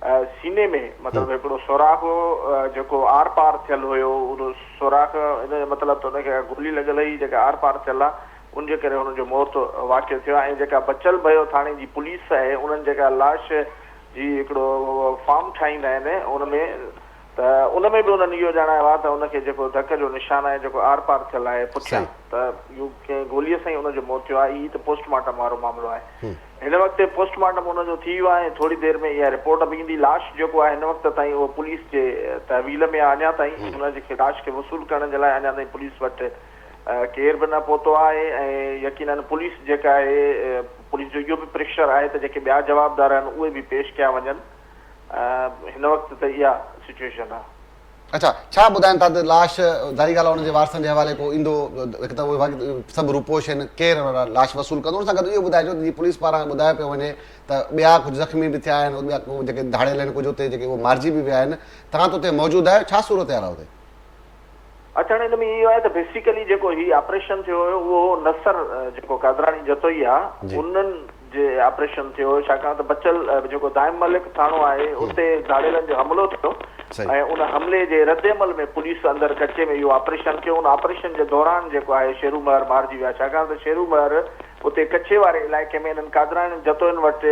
سيني ۾ مطلب هڪڙو سوراخ هو جيڪو آر پار ٿيل هيو ان سوراخ ان جو مطلب ته ان کي گولي لڳل هئي جيڪا آر پار ٿيل آ ان جي ڪري هن جو موت واقع ٿيو آ ۽ جيڪا بچل ڀيو ٿاڻي جي پوليس آهي انهن جيڪا لاش جي هڪڙو فارم ٺاهيندا آهن ان ۾ ته ان ۾ به انهن اهو ڄاڻايو آهي ته ان کي جيڪو ڌڪ جو نشان آهي جيڪو آر پار ٿيل آهي پٺيان ته اهو ڪنهن گوليء سان ئي ان جو موت ٿيو آهي هي ته پوسٽ مارٽم وارو معاملو آهي هن وقت پوسٽ مارٽم ان جو ٿي ويو آهي ۽ ٿوري دير ۾ اها رپورٽ به ايندي لاش جيڪو آهي هن وقت تائين اهو پوليس جي تحويل ۾ آهي اڃا تائين ان جي کي لاش کي وصول ڪرڻ جي لاء اڃا تائين پوليس وٽ ڪير به نه پهتو آهي ۽ يقيناً پوليس جيڪا آهي پوليس جو اهو به پريشر آهي ته جيڪي ٻيا جوابدار آهن اهي به پيش ڪيا وڃن هن وقت ته اها سچويشن آ. اڇا ڇا ٻڌائن ٿا ته لاش ظاهري ڳالهه آ ان جي وارثن جي حوالي ڪو ايندو هڪ ته اهي سڀ روپوش آهن ڪير لاش وصول ڪندو ان سان گڏ اهو ٻڌائجو ته جيئن پوليس پاران ٻڌايو پيو وڃي ته ٻيا ڪجهه زخمي به ٿيا آهن ٻيا ڪو جيڪي ڌاڙيل آهن ڪجهه اتي جيڪي اهي مارجي به ويا آهن توهان ته اتي موجود آهيو ڇا صورتحال آ اتي. اچڻ ان ۾ اهو آهي ته بيسيڪلي جيڪو هي آپريشن ٿيو هيو اهو هو نصر جيڪو قادراڻي جتوئي آ انهن جي آپريشن ٿيو هيو ڇاڪاڻ ته بچل جيڪو دائم ملڪ ٿاڻو آهي اتي ڌاڙيلن جو حملو ٿيو ۽ ان حملي جي ردعمل ۾ پوليس اندر ڪچي ۾ اهو آپريشن ٿيو ان آپريشن جي دوران جيڪو آهي شيرو مهر مارجي ويا ڇاڪاڻ ته شيرو مهر اتي ڪچي واري علائقي ۾ انهن قادراڻين جتوئين وٽ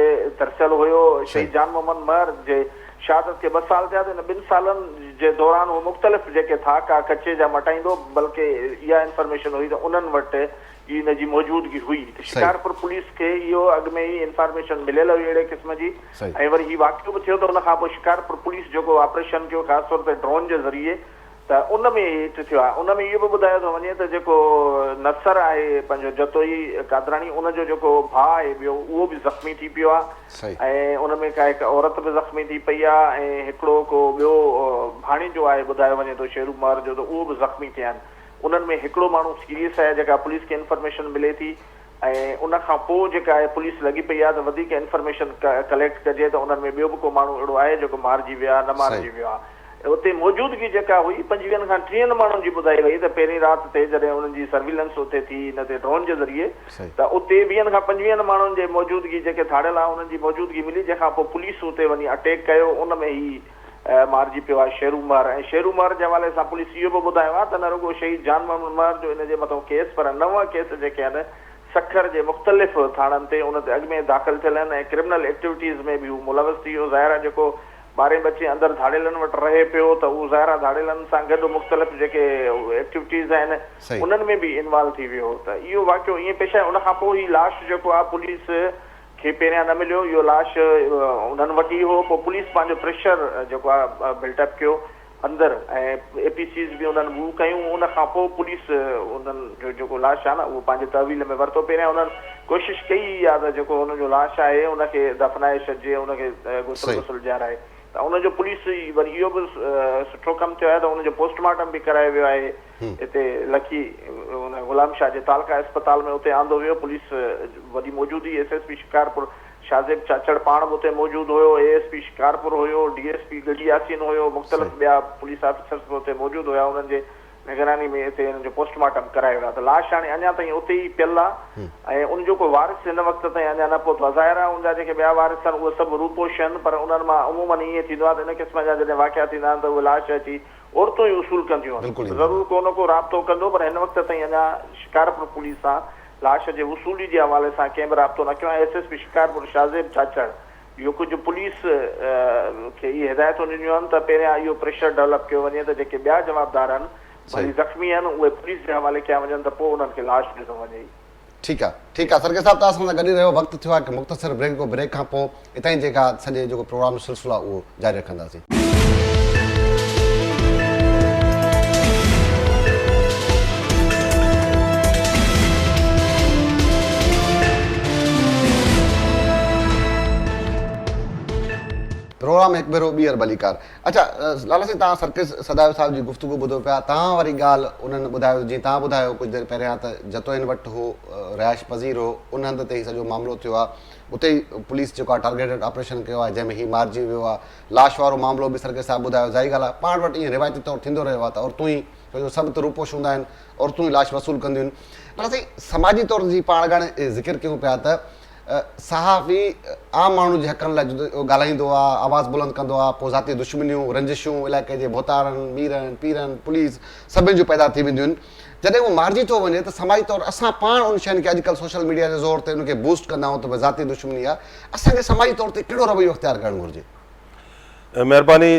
ترسيل هيو شهيد جان محمد مهر جي شهادت کي ٻه سال ٿيا ته ان ٻن سالن جي دوران هو مختلف جيڪي ٿاڪا ڪچي جا مٽائيندو بلڪه اها انفارميشن هئي ته انهن وٽ ئي ان جي موجودگي هئي ته شڪارپور پوليس کي اهو اڳ ۾ ئي انفارميشن مليل هئي اهڙي قسم جي ۽ وري هي واقعو به ٿيو ته ان کانپوء شڪارپور پوليس جيڪو آپريشن ڪيو خاص طور تي ڊرون جي ذريعي ته ان ۾ هيٺ ٿيو آهي. ان ۾ اهو به ٻڌايو ٿو وڃي ته جيڪو نصر آهي پنهنجو جتوئي قادراڻي ان جو جيڪو ڀاء آهي ٻيو اهو به زخمي ٿي پيو آهي صحيح. ۽ ان ۾ ڪا هڪ عورت به زخمي ٿي پئي آهي ۽ هڪڙو ڪو ٻيو ڀاڻيجو آهي ٻڌايو وڃي ٿو شيروب مهر جو ته اهو به زخمي ٿيا آهن. انهن ۾ هڪڙو ماڻهو سيريس آهي جيڪا پوليس کي انفارميشن ملي ٿي. ۽ ان کان پوء جيڪا آهي پوليس لڳي پئي آهي ته وڌيڪ انفرميشن ڪليڪٽ ڪجي ته انهن ۾ ٻيو به ڪو ماڻهو اهڙو آهي جيڪو مارجي ويو آهي نه مارجي ويو آهي اتي موجودگي جيڪا هئي پنجويهن کان ٽيهن ماڻهن جي ٻڌائي وئي ته پهرين رات تي جڏهن انهن جي سرويلنس اتي ٿي ان تي ڊرون جي ذريعي ته اتي ويهن کان پنجويهن ماڻهن جي موجودگي جيڪي ڌاڙيل آهن انهن جي موجودگي ملي جنهن کان پوء پوليس اتي وڃي اٽيڪ ڪيو ان ۾ هي مارجي پيو آهي شيرو مهر ۽ شيرو مهر جي حوالي سان پوليس اهو به ٻڌايو آهي ته نه رڳو شهيد جان محمد مهر جو ان جي مٿو ڪيس پر نو ڪيس جيڪي آهن سکر جي مختلف ٿاڻن تي ان تي اڳ ۾ داخل ٿيل آهن ۽ ڪرمنل ايڪٽويٽيز ۾ به هو ملوث ٿي ويو ظاهر آهي جيڪو ٻارهين بچي اندر ڌاڙيلن وٽ رهي پيو ته اهو ظاهر آهي ڌاڙيلن سان گڏ مختلف جيڪي ايڪٽويٽيز آهن انهن ۾ به انوالو ٿي ويو ته اهو واقعو ائين پيش آهي ان کان پوء هي لاش جيڪو آهي پوليس کي پهريان نه مليو اهو لاش انهن وٽ ئي هو پوء پوليس پنهنجو پريشر جيڪو آهي بلٽ اپ ڪيو اندر ۽ اي پي سيز به انهن موو ڪيون ان کان پوء پوليس انهن جو جيڪو لاش آهي نه اهو پنهنجي تحويل ۾ ورتو پهريان انهن ڪوشش ڪئي آهي ته جيڪو انهن جو لاش آهي ان کي دفنائي ڇڏجي ان کي غسل وسل ڏيارائي ته ان جو پوليس وري اهو به سٺو ڪم ٿيو آهي ته ان جو پوسٽ مارٽم به ڪرايو ويو آهي اتي لکي ان غلام شاهه جي تعلقه اسپتال ۾ اتي آندو ويو پوليس وڏي موجود هئي S S P Shikarpur Shahzeb Chachar پاڻ به اتي موجود هيو اي ايس پي شڪارپور هيو D S P Garhi Yasin هيو مختلف ٻيا پوليس آفيسرز به اتي موجود هيا انهن جي نگراني ۾ اتي انهن جو پوسٽ مارٽم ڪرايو ويو ته لاش هاڻي اڃا تائين اتي ئي پيل آهي ۽ ان جو ڪو وارث هن وقت تائين اڃا نه پهتو آهي ظاهر آهي ان جا جيڪي ٻيا وارث آهن اهي سڀ روپوش آهن پر انهن مان عمومن ائين ٿيندو آهي ته ان قسم جا جڏهن واقعا ٿيندا آهن ته اهي لاش اچي عورتون ئي وصول ڪنديون آهن. ضرور ڪو نه ڪو رابطو ڪندو پر هن وقت تائين اڃا شڪارپور پوليس سان لاش جي وصولي جي حوالي سان ڪنهن به رابطو نه ڪيو آهي S S P Shikarpur Shahzeb Chachar جو ڪجهه پوليس کي اهي هدايتون ڏنيون آهن ته پهريان اهو پريشر ڊولپ ڪيو وڃي ته جيڪي ٻيا جوابدار آهن ڀلي زخمي آهن اهي پوليس جي حوالي ڪيا وڃن ته پوء انهن کي لاش ڏنو وڃي. ٺيڪ آ ٺيڪ آ سرڪي صاحب توهان سان گڏ ئي رهيو وقت ٿيو آهي هڪ مختصر بريڪ جو بريڪ کان پو اتاهين جيڪا سڄي جيڪو پروگرام جو سلسلو آهي اهو جاري رکنداسين. پروگرام هڪ ڀيرو ٻيهر ڀليڪار. اچا لالا سائين توهان سرڪيس سدايو صاحب جي گفتگو ٻڌو پيا توهان واري ڳالهه انهن ٻڌايو جيئن توهان ٻڌايو ڪجهه دير پهريان ته جتو هن وٽ هو رهائش پذير هو ان هنڌ تي هي سڄو معاملو ٿيو آهي اتي ئي پوليس جيڪو آهي ٽارگيٽيڊ آپريشن ڪيو آهي جنهن ۾ هي مارجي ويو آهي لاش وارو معاملو به سرڪيس صاحب ٻڌايو ظاهري ڳالهه آهي پاڻ وٽ ائين روايتي طور ٿيندو رهيو آهي ته عورتون ئي ڇو جو سڀ ته روپوش هوندا آهن عورتون ئي لاش وصول ڪنديون آهن لالا سائين سماجي طور جي پاڻ اڳاڻي ذڪر ڪيون پيا ته صحافي عام ماڻهو جي حقن لاء ڳالهائيندو آ، آواز بلند ڪندو آ، پوء ذاتي دشمنيون، رنجشون، علائقي جي ڀوتارن، ميرن، پيرن، پوليس، سڀني جون پيدا ٿي وينديون آهن. جڏهن اهو مارجي ٿو وڃي ته سماجي طور اسان پاڻ ان شين کي اڄ ڪلهه سوشل ميڊيا جي زور تي ان کي بوسٽ ڪندا آهيون ته ڀي ذاتي دشمني آ. اسان کي سماجي طور تي ڪهڙو رويو اختيار ڪرڻ گهرجي؟ مهرباني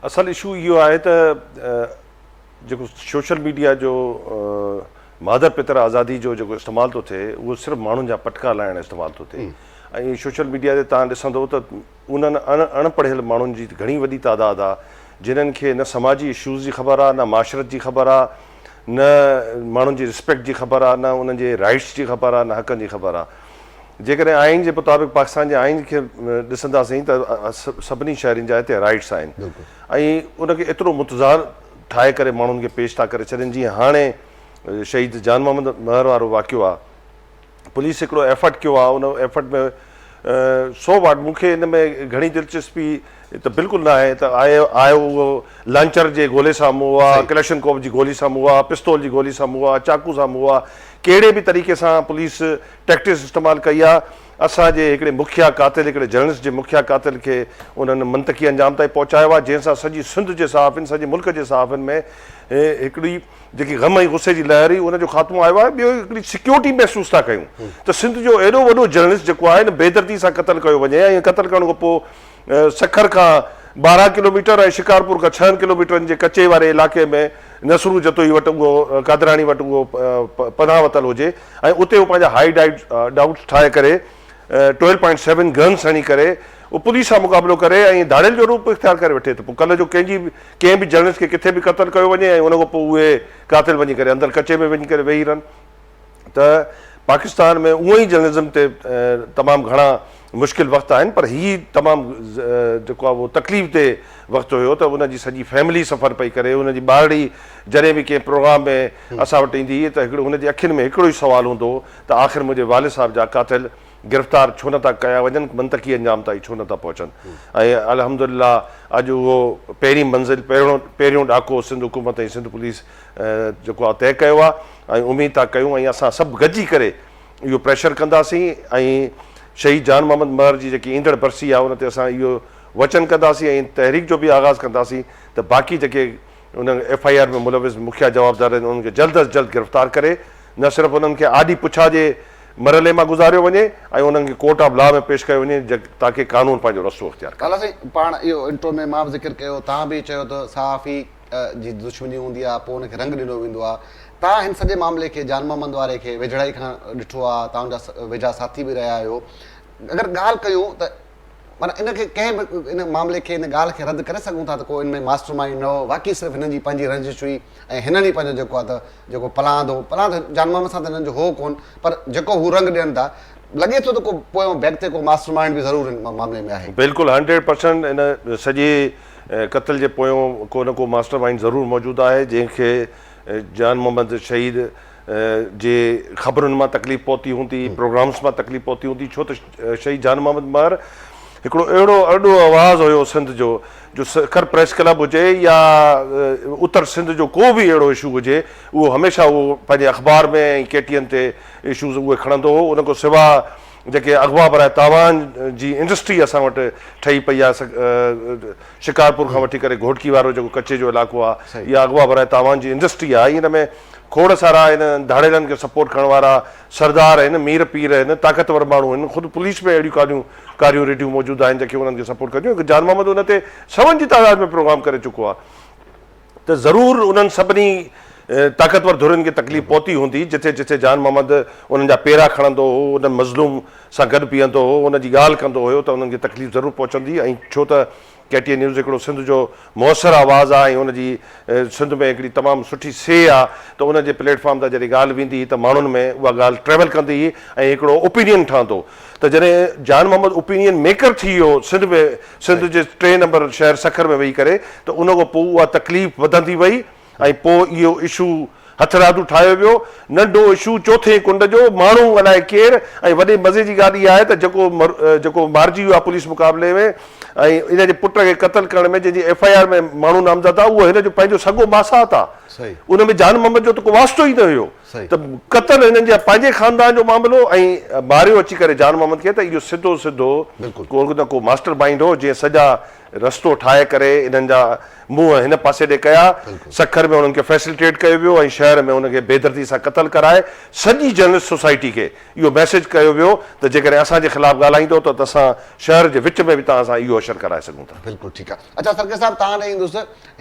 اصل اشو اهو آهي ته جيڪو سوشل ميڊيا جو مادر پتر آزادي جو جيڪو استعمال ٿو ٿئي اهو صرف ماڻهن جا پٽڪا لاهڻ استعمال ٿو ٿئي ۽ سوشل ميڊيا تي تان ڏسندو ته انهن اڻ پڙهيل ماڻهن جي گهڻي وڏي تعداد آ جنهن کي نه سماجي اشوز جي خبر آ نه معاشرت جي خبر آ نه ماڻهن جي رسپيڪٽ جي خبر آ نه انهن جي رائيٽس جي خبر آ نه حقن جي خبر آ. جيڪڏهن آئين جي مطابق پاڪستان جي آئين کي ڏسنداسين ته سڀني شهرين جا هتي رائيٽس آهن ۽ ان کي ايترو متضاد ٺاهي ڪري ماڻهن کي پيش ٿا ڪري ڇڏين جيئن هاڻي شهيد جان محمد مهر وارو واقعو آهي پوليس هڪڙو ايفرٽ ڪيو آهي ان ايفرٽ ۾ سو واٽ مون کي ان ۾ گهڻي دلچسپي هي ته بلڪل نه آهي ته آء آء اهو لانچر جي گولي سامهون هو آء ڪلشن ڪوف جي گولي سامهون هو آء پستول جي گولي سامهون هو آء چاقو سامهون هو آء ڪهڙي به طريقي سان پوليس ٽيڪٽس استعمال ڪئي آهي اسان جي هڪڙي مکيه قاتل هڪڙي جرنلسٽ جي مکيه قاتل کي انهن منطقي انجام تائين پهچايو آهي جنهن سان سڄي سنڌ جي صحافين سڄي ملڪ جي صحافين ۾ هڪڙي جيڪي غم ۽ غصي جي لهر هئي ان جو خاتمو آيو آهي ٻيو هڪڙي سيڪيورٽي محسوس ٿا ڪيون ته سنڌ جو ايڏو وڏو جرنلسٽ جيڪو آهي نه بيدردي سان قتل ڪيو وڃي ۽ قتل ڪرڻ کان پوء سکر کان ٻارهن ڪلوميٽر ۽ شڪارپور کان ڇهن ڪلوميٽرن جي ڪچي واري علائقي ۾ نصرو جتوئي وٽ اهو قادراڻي وٽ اهو پناهه وتل هجي ۽ اتي هو پنهنجا هائي ڊائوٽس ٺاهي ڪري ٽويلو پوائنٽ سيون گنز هڻي ڪري اهو پوليس سان مقابلو ڪري ۽ ڌاڙيل جو روپ اختيار ڪري وٺي ته پوء ڪلهه جو ڪنهن جي به ڪنهن به جرنلسٽ کي ڪٿي به قتل ڪيو وڃي ۽ ان کان پوء اهي قاتل وڃي ڪري اندر ڪچي ۾ وڃي ڪري ويهي رهن ته پاڪستان ۾ اونئن ئي جرنلزم تي تمام گهڻا مشڪل وقت آهن پر هي تمام جيڪو آهي اهو تڪليف دهه وقت هيو ته ان جي سڄي فيملي سفر پئي ڪري ان جي ٻارڙي جڏهن به ڪنهن پروگرام ۾ اسان وٽ ايندي هئي ته هڪڙو ان جي اکين ۾ هڪڙو ئي سوال هوندو هو ته آخر منهنجي والد صاحب جا قاتل گرفتار ڇو نه ٿا ڪيا وڃن منطقي انجام تائين ڇو نه ٿا پهچن ۽ الحمدلله اڄ اهو پهرين منزل پهريون ڏاڪو سنڌ حڪومت ۽ سنڌ پوليس جيڪو آء طئي ڪيو آهي ۽ اميد ٿا ڪيون ۽ اسان سڀ گڏجي ڪري اهو پريشر ڪنداسين ۽ شهيد جان محمد مهر جي جيڪي ايندڙ برسي آهي ان تي اسان اهو وچن ڪنداسين ۽ ان تحريڪ جو به آغاز ڪنداسين ته باقي جيڪي ان ايف آء آر ۾ ملوث مکيه جوابدار آهن انهن کي جلد از جلد گرفتار ڪري نه صرف انهن کي آڏي پڇا جي مرحلي مان گذاريو وڃي ۽ انهن کي ڪورٽ آف لا ۾ پيش ڪيو وڃي تاڪي قانون پنهنجو رستو اختيار ڪري. لالا سائين پاڻ اهو انٽرو ۾ مان به ذڪر ڪيو توهان به چيو ته صحافي جي دشمني هوندي آهي پوء ان کي رنگ ڏنو ويندو آهي توهان هن سڄي معاملي کي جان محمد واري کي ويجهڙائي کان ڏٺو آهي توهان جا ويجها ساٿي به رهيا آهيو اگر ڳالهه ڪيون ته معنيٰ ان کي ڪنهن به ان معاملي کي ان ڳالهه کي رد ڪري سگهون ٿا ته ڪو ان ۾ ماسٽر مائينڊ نه هو واقعي صرف هنن جي پنهنجي رنجش هئي ۽ هنن ئي پنهنجو جيڪو آهي ته جيڪو پلاند هو پلاند جان محمد سان ته هنن جو هو ڪونه پر جيڪو هو رنگ ڏين ٿا لڳي ٿو ته ڪو پويون بيڪ تي ڪو ماسٽر مائينڊ به ضرور ان معاملي ۾ آهي. بلڪل هنڊريڊ پرسنٽ ان سڄي قتل جي پويون ڪو نه ڪو ماسٽر مائينڊ ضرور موجود آهي جنهن کي جان محمد شهيد جي خبرن مان تڪليف پهتي هوندي، پروگرامز مان تڪليف پهتي هوندي ڇو ته شهيد جان محمد مهر هڪڙو اهڙو ارڏو آواز هيو سنڌ جو جو سکر پريس ڪلب هجي يا اتر سنڌ جو ڪو به اهڙو اشو هجي اهو هميشه اهو پنهنجي اخبار ۾ ۽ ڪي ٽي اين تي اشوز اهي کڻندو هو ان کان سوا جيڪي اغوا براء تاوان جي انڊسٽري اسان وٽ ٺهي پئي آ شڪارپور کان وٺي ڪري گهوٽڪي وارو جيڪو ڪچي جو علاقو آ اها اغوا براء تاوان جي انڊسٽري آ ان ۾ کوڙ سارا آهن ڌاڙيلن کي سپورٽ ڪرڻ وارا سردار آهن مير پير آهن طاقتور ماڻهو آهن خود پوليس ۾ اهڙيون ڪاريون ڪاريون ريڊيون موجود آهن جيڪي انهن کي سپورٽ ڪنديون جان محمد ان تي سون جي تعداد ۾ پروگرام ڪري چڪو آ. ته ضرور انهن سڀني طاقتور ڌرين کي تڪليف پهتي هوندي، جٿي جٿي جان محمد انهن جا پيرا کڻندو هو، انهن مظلوم سان گڏ بيهندو هو، انهن جي ڳالهه ڪندو هيو ته انهن کي تڪليف ضرور پهچندي ۽ ڇو ته ڪي ٽي اي نيوز هڪڙو سنڌ جو موثر آواز آ ۽ ان جي سنڌ ۾ هڪڙي تمام سٺي سيء آ ته ان جي پليٽ فارم تان جڏهن ڳالهه ويندي هئي ته ماڻهن ۾ اها ڳالهه ٽريول ڪندي هئي ۽ هڪڙو اوپينين ٺهندو ته جڏهن جان محمد اوپينين ميڪر ٿي ويو سنڌ ۾ سنڌ جي ٽئين نمبر شهر سکر ۾ ويهي ڪري ته ان کان پوء اها تڪليف وڌندي وئي ۽ پوء اهو اشو هٿرادو ٺاهيو ويو ننڍو اشو چوٿين ڪنڊ جو ماڻهو الاء ڪير ۽ وڏي مزي جي ڳالهه اها آهي ته جيڪو جيڪو مارجي ويو آهي پوليس مقابلي ۾ ۽ ان جي پٽ کي قتل ڪرڻ ۾ جنهن جي ايف آء آر ۾ ماڻهو نامزد آهي اهو هن جو پنهنجو سڳو ماسات آهي ان ۾ جان محمد جو ته ڪو واسطو ئي نه هيو ته قتل هنن جي پنهنجي خاندان جو معاملو ۽ ماريو اچي ڪري جان محمد کي ته اهو سڌو سڌو ڪو نه ڪو ماسٽر مائينڊ هو جنهن سڄا رستو ٺاهي ڪري انهن جا منهن هن پاسي ڏي ڪيا سکر ۾ انهن کي فيسلٽيٽ ڪيو ويو ۽ شهر ۾ ان کي بيدردي سان قتل ڪرائي سڄي جرنلسٽ سوسائٽي کي اهو ميسيج ڪيو ويو ته جيڪڏهن اسان جي خلاف ڳالهائيندو ته اسان شهر جي وچ ۾ به توهان سان اهو حشر ڪرائي سگهون ٿا. بلڪل ٺيڪ آ اچا سرڪي صاحب توهان ڏي ايندس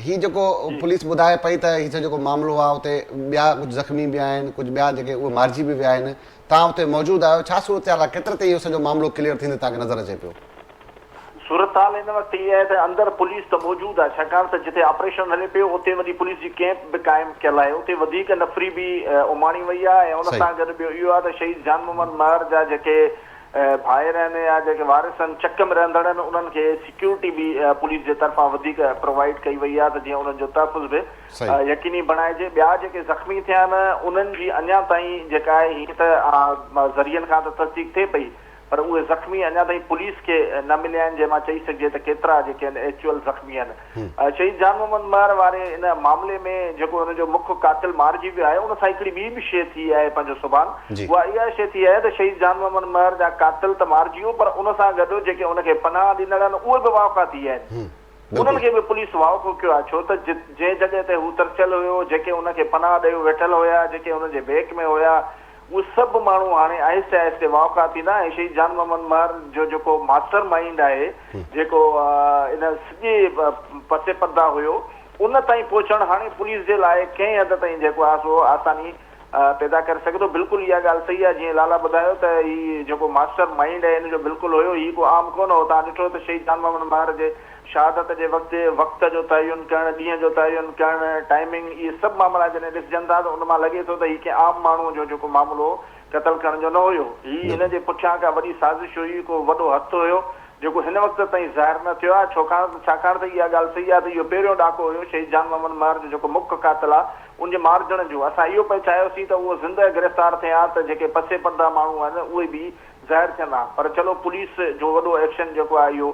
هي جيڪو پوليس ٻڌائي پئي ته هي سڄو جيڪو معاملو آهي اتي ٻيا ڪجهه زخمي به آهن ڪجهه ٻيا جيڪي اهي مارجي به ويا آهن تان اتي موجود آهيو ڇا صورتحال آهي ڪيتري تائين اهو سڄو معاملو ڪليئر ٿيندي تان کي نظر اچي پيو. صورتحال هن وقت هي آهي ته اندر پوليس ته موجود آهي ڇاڪاڻ ته جتي آپريشن هلي پيو اتي وڃي پوليس جي ڪيمپ به قائم ڪيل آهي اتي وڌيڪ نفري به اماڻي وئي آهي ۽ ان سان گڏ ٻيو اهو آهي ته شهيد جان محمد مهر جا جيڪي ڀائرن يا جيڪي وارثن چڪ ۾ رهندڙن انهن کي سيڪيورٽي به پوليس جي طرفان وڌيڪ پرووائيڊ ڪئي وئي آهي ته جيئن انهن جو تحفظ به يقيني بڻائجي ٻيا جيڪي زخمي ٿيا آهن انهن جي اڃا تائين جيڪا آهي هيئن ته ذريعن کان ته تصديق ٿئي پئي پر اهي زخمي اڃا تائين پوليس کي نه مليا آهن جنهن مان چئي سگهجي ته ڪيترا جيڪي آهن ايڪچوئل زخمي آهن. شهيد جان محمد مهر واري ان معاملي ۾ جيڪو ان جو مک قاتل مارجي ويو آهي ان سان هڪڙي ٻي به شيء ٿي آهي پنهنجو سبحان اها اها شيء ٿي آهي ته شهيد جان محمد مهر جا قاتل ته مارجي ويو پر ان سان گڏ جيڪي ان کي پناهه ڏنل آهن اهي به واهکا ٿي ويا آهن انهن کي به پوليس واهکو ڪيو آهي ڇو ته جنهن جڳهه تي هو ترسيل هيو جيڪي ان کي پناهه ڏيو ويٺل هيا جيڪي ان جي بيڪ ۾ هيا اهي سڀ ماڻهو هاڻي آهستي آهستي واوکا ٿيندا ۽ شهيد جان محمد مهر جو جيڪو ماسٽر مائينڊ آهي جيڪو ان سڄي پس پرده هيو ان تائين پهچڻ هاڻي پوليس جي لاء ڪنهن حد تائين جيڪو آهي سو آساني پيدا ڪري سگهي ٿو بلڪل اها ڳالهه صحيح آهي جيئن لالا ٻڌايو ته هي جيڪو ماسٽر مائينڊ هي ان جو بلڪل هيو هي ڪو عام ڪونه هو تان ڏٺو ته شهيد جان محمد مهر جي شهادت جي وقت، وقت جو تعين ڪرڻ، ڏينهن جو تعين ڪرڻ، Timing، اهي سڀ معاملا جڏهن ڏسجن ٿا ته ان مان لڳي ٿو ته هي ڪنهن عام ماڻهوء جو جيڪو معاملو هو، قتل ڪرڻ جو نه هيو. هي هن جي پٺيان ڪا وڏي سازش هئي، ڪو وڏو هٿ هيو، جيڪو هن وقت تائين ظاهر نه ٿيو آهي، ڇوڪاڻ ڇاڪاڻ ته اها ڳالهه صحيح آهي ته اهو پهريون ڏاڪو هيو شهيد جان محمد مهر جو جيڪو مک قاتل آهي، ان جي مارجڻ جو. اسان اهو پئي چاهيوسين ته اهو زندهه گرفتار ٿئي ها ته جيڪي پسي پرده ماڻهو آهن اهي به ظاهر ٿين ها. پر چلو پوليس جو وڏو ايڪشن جيڪو آهي اهو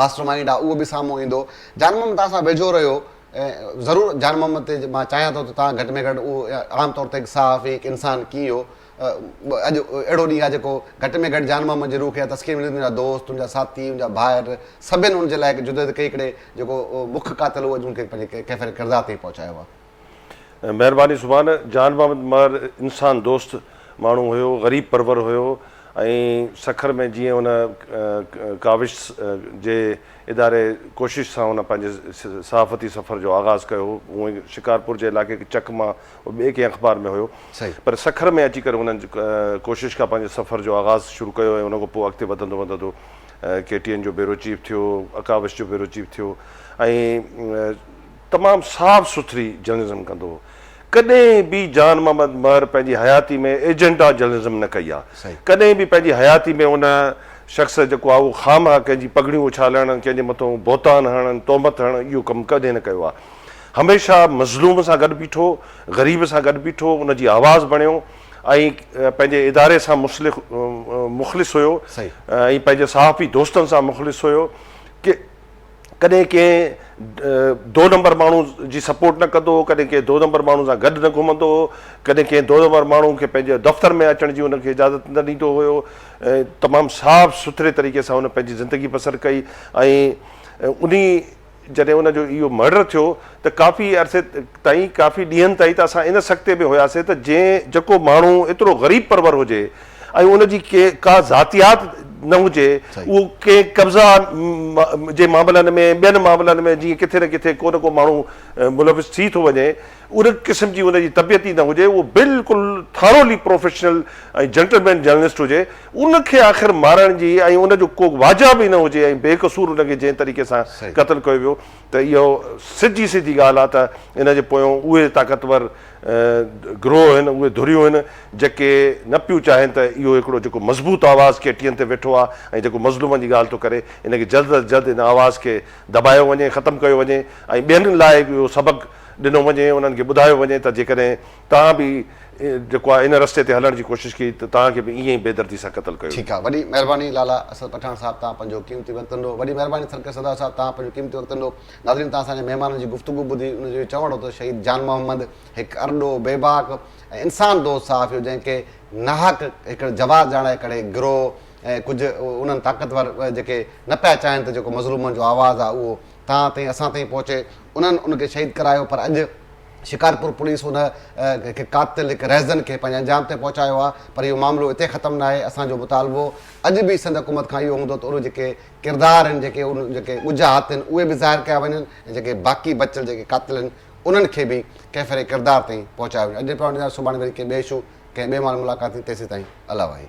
ماسٽر مائينڊ آ اهو به سامهون ايندو جان محمد توهان سان ويجهو رهيو ضرور جان محمد تي مان چاهيان ٿو ته توهان گهٽ ۾ گهٽ اهو عام طور تي هڪ صحافي هڪ انسان ڪيئن هو اڄ اهڙو ڏينهن آهي جيڪو گهٽ ۾ گهٽ جان محمد جي روح کي تسڪين ملي تنهنجا دوست تنهنجا ساٿي تنهنجا ڀائر سڀن ان جي لاء هڪ جدوجهد ڪئي ڪڙي جيڪو مک قاتل هو اڄ ان کي پنهنجي ڪيفيت ڪردار تائين پهچايو آهي مهرباني سبحان جان بابت مهر انسان دوست ماڻهو هيو غريب پرور هيو ۽ سکر ۾ جيئن هن ڪاوش جي اداري ڪوشش سان هن پنهنجي صحافتي سفر جو آغاز ڪيو هو هونئن شڪارپور جي علائقي کي چڪ مان ٻئي ڪنهن اخبار ۾ هيو پر سکر ۾ اچي ڪري هن ڪوشش کان پنهنجي سفر جو آغاز شروع ڪيو ۽ ان کان پوء اڳتي وڌندو وڌندو ڪي ٽي اين جو بيورو چيف ٿيو اڪاوش جو بيورو چيف ٿيو ۽ تمام صاف سٿري جرنلزم ڪندو هو. ڪڏهن به جان محمد مهر پنهنجي حياتي ۾ ايجنڊا جرنلزم نه ڪئي آ. ڪڏهن به پنهنجي حياتي ۾ ان شخص جيڪو آ اهو خواهه مخواهه ڪنهن جي پڳڙيون اڇالڻ، ڪنهن جي مٿون بهتان هڻڻ، تهمت هڻڻ اهو ڪم ڪڏهن نه ڪيو آ. هميشه مظلوم سان گڏ بيٺو، غريب سان گڏ بيٺو، ان جي آواز بڻيو ۽ پنهنجي اداري سان مخلص هيو ۽ پنهنجي صحافي دوستن سان مخلص هيو. ڪڏهن ڪنهن دو نمبر ماڻهو جي سپورٽ نه ڪندو هو، ڪڏهن ڪنهن دو نمبر ماڻهو سان گڏ نه گهمندو هو، ڪڏهن ڪنهن دو نمبر ماڻهو کي پنهنجي دفتر ۾ اچڻ جي هن کي اجازت نه ڏيندو هيو. تمام صاف سٿري طريقي سان هن پنهنجي زندگي بسر ڪئي ۽ انهي جڏهن ان جو اهو مرڊر ٿيو ته ڪافي عرصي تائين ڪافي ڏينهن تائين ته اسان ان سڪتي ۾ هياسين ته جنهن جيڪو ماڻهو ايترو غريب پرور هجي ۽ ان جي ڪا ذاتيات نه هجي اهو ڪنهن قبضا جي معاملن ۾ ٻين معاملن ۾ جيئن ڪٿي نه ڪٿي ڪو نه ڪو ماڻهو ملوث ٿي ٿو وڃي ان قسم جي ان جي طبيعت ئي نه هجي اهو بلڪل ٿارولي پروفيشنل ۽ جنٽلمين جرنلسٽ هجي ان کي آخر مارڻ جي ۽ ان جو ڪو واجهه به نه هجي ۽ بي قصور ان کي جنهن طريقي سان قتل ڪيو ويو ته اهو سڌي سڌي ڳالهه آهي ته ان جي پويون اهي طاقتور گروهه آهن اهي ڌريون آهن جيڪي نه پيون چاهين ته اهو هڪڙو جيڪو مضبوط آواز ڪيٽين تي ويٺو آهي ۽ جيڪو مظلومن جي ڳالهه ٿو ڪري ان کي جلد از جلد ان آواز کي دٻايو وڃي ختم ڪيو وڃي ۽ ٻين لاء به اهو سبق ڏنو وڃي انهن کي ٻڌايو وڃي ته جيڪڏهن توهان به جيڪو آهي ان رستي تي هلڻ جي ڪوشش ڪئي ته توهان کي به ائين ئي بي دردي سان قتل ڪيو ٺيڪ آهي وڏي مهرباني لالا اسد پٺاڻ صاحب توهان پنهنجو قيمتي وقت ڏنو وڏي مهرباني ٿرڪ سردار صاحب توهان پنهنجو قيمتي وقت ڏنو. ناظرين توهان اسان جي مهمانن جي گفتگو ٻڌي ان جو اهو چوڻ هو ته شهيد جان محمد هڪ ارڏو، بيباڪ ۽ انسان دوست صحافي هو جنهن کي ناحق هڪڙ جواز ڄاڻائي ڪڙي گروهه ۽ ڪجهه انهن طاقتور جيڪي نه پيا چاهين ته جيڪو مظلومن جو آواز آهي اهو توهان تائين اسان تائين پهچي انهن ان کي شهيد ڪرايو پر اڄ شڪارپور پوليس ان هڪ قاتل هڪ رهزن کي پنهنجي انجام تائين پهچايو آهي پر اهو معاملو اتي ختم ناهي اسان جو مطالبو اڄ به سنڌ حڪومت کان اهو هوندو ته اهي جيڪي ڪردار آهن جيڪي ان جيڪي ڳجها آتين اهي به ظاهر ڪيا وڃن ۽ جيڪي باقي بچيل جيڪي قاتل آهن انهن کي به ڪيفر ڪردار تائين پهچايو وڃي اڄ پاڻ جا سڀاڻي وري ڪنهن ٻئي شو ڪنهن ٻئي مال ملاقات ٿيندي تيسين تائين الله وحي.